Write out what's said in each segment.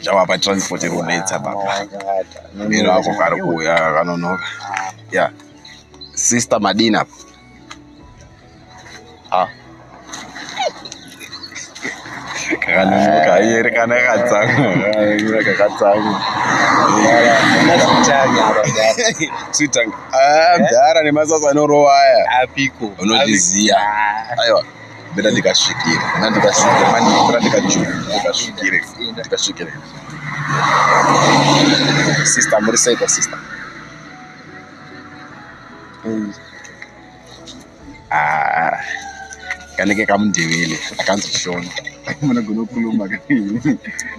zvawapa transport iri kunetsa baba miro ako kari kuuya kanonoka ya sister madini apo ah. kakanonoka iyeri kana kakatsamwa kakatsamwa sweetanga ah, mdhara nemasasa anorova aya unozviziya aiwa beta ndikasvikire na ndikasvikire manje beta ndikajuru ndikasvikire ndikasvikire sister muri sei kwa sister ah kanenge kamundevele akanzi shona munogona kukhuluma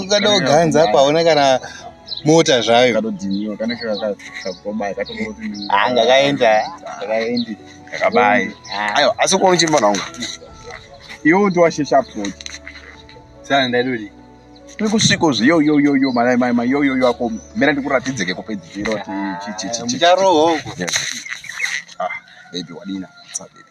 ukada kuganza apa hauna kana mota zvayo angakaenda akaendi akabai ayo asi kuona uchimba nawo iwo ndi washesha approach sana ndaidodi tiri kusviko zviyo yo yo yo mai mai mai yo yo yo ako mira ndikuratidze ke kupedzisiro chi chi chi chi charoho ah baby wadina what's up baby